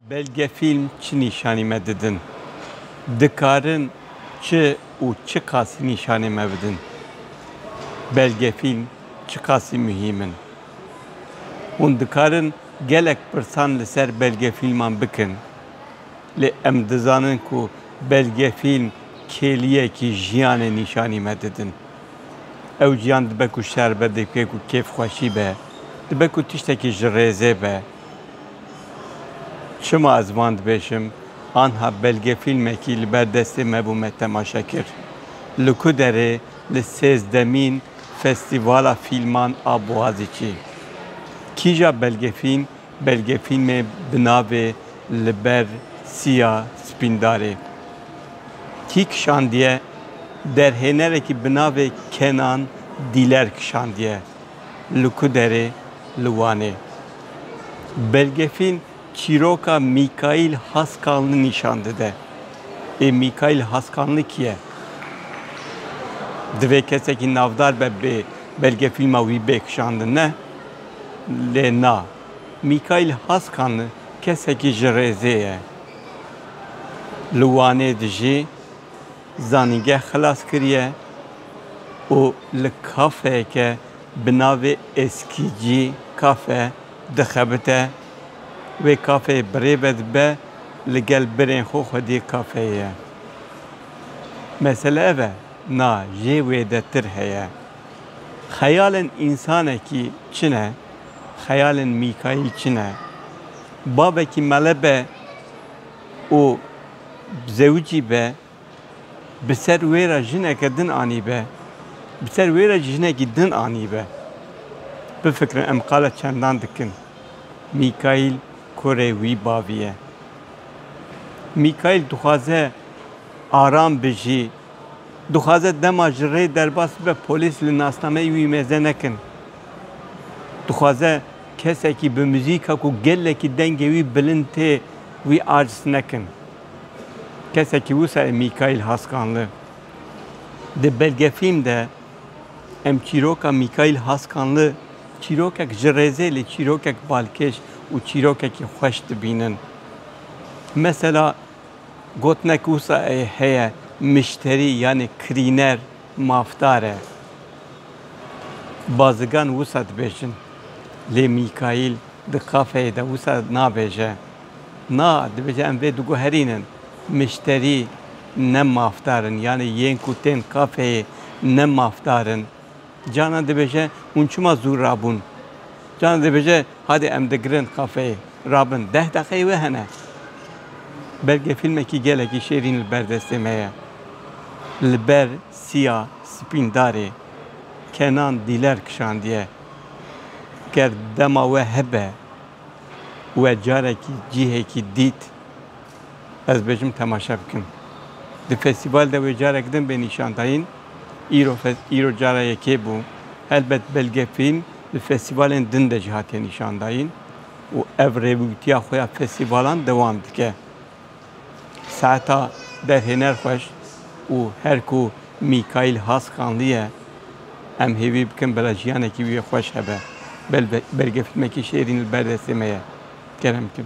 Belgefîlm çi nîşanî me didin? Dikarin çi û çiqasî nîşanê me bidin? Belgefîlm çiqasî muhîm in? Hûn dikarin gelek pirsan li ser belgefîlman bikin. Lê em dizanin ku belgefîlm kêliyekî jiyanê nîşanî me didin. Ew jiyan dibe ku şer be, dibe ku kêfxweşî be, dibe ku tiştekî ji rêzê be. Çima ez van dibêjim? Anha belgefîlmekî li ber destê me bû me temaşe kir. Li ku derê? Li sêzdemîn Festîvala Fîlman a Boğaziçî. Kîja belgefîlm? Belgefîlmê bi navê Li ber siya spîndarê kî kişandiye? Derhênerekî bi navê Kenan Dîler kişandiye. Li ku derê? Li Wanê. Belgefîlm çîroka Mîkaîl Haskanli nîşan dide. Ê Mîkaîl Haskanli kî ye? Divê kesekî navdar be bê belgefîlma wî bê kişandin ne? Lê na, Mîkaîl Haskan kesekî ji rêzê ye. Li Wanê dijî, zanîngeh xilas kiriye û li kafeyeke bi navê Eskîcî Kafe dixebite. Wê kafeyê birêve dibe, li gel birên xwe xwedî kafeyê ye. Mesele ev e, na jê wê de tir heye. Xeyalên însanekî çi ne? Xeyalên Mîkayîl çi ne? Bavekî mele be û zewicî be, bi ser wê re jineke din anîbe. Bi ser wê re jî jinekî din anîbe. Bifikirin em qala çendan dikin. Mîkayîl kurê wî bavî ye. Mîkayîl dixwaze aram bijî. Dixwaze dema ji rê derbas bibe polîs li nasnameyê wî mêze nekin. Dixwaze kesekî bi muzîka ku gelekî dengê wî bilind tê wî aciz nekin. Kesekî wisa ye Mîkaîl Haskanli. Di belgefîlm de em çîroka Mîkaîl Haskanli çîrokek ji rêzê lê çîrokek balkêş û çîrokekî xweş dibînin. Mesela Gotinek wisa heye mişterî yanî kirîner mafdar e. Bazigan wisa dibêjin. Lê Mîkaîl di kafeyê de wisa nabêje. Na, dibêje em vê diguherînin. Mişterî ne mafdar in yanî yên ku tên kafeyê ne mafdar in. Canan dibêje, Hûn çima zû rabûn? Canan dibêje, Hadê em digirin kafeyê. Rabin. Deh deqeyê wê hene. Belge fîlmekî gelekî şêrîn li ber destê me ye. Li ber siya spîndarê Kenan Dîler kişandiye. Ger dema we hebe we carekî cihekî dît. Ez dibêjim temaşe bikim. Di festîval de wê carek din bê nîşandayîn. Îro îro cara yekê bû. Helbet belge fîlm di festîvalên din de jî hatiye nîşandayîn û ev rêwîwtiya xwe ya festîvalan dewam dike. Saeta derhêner xweş û her ku Mîkaîl Haskanlî ye em hêvî bikin bila jiyanekî wî xweş hebe. Belge fîlmekî şêrîn li ber destê me ye. Kerem bikin.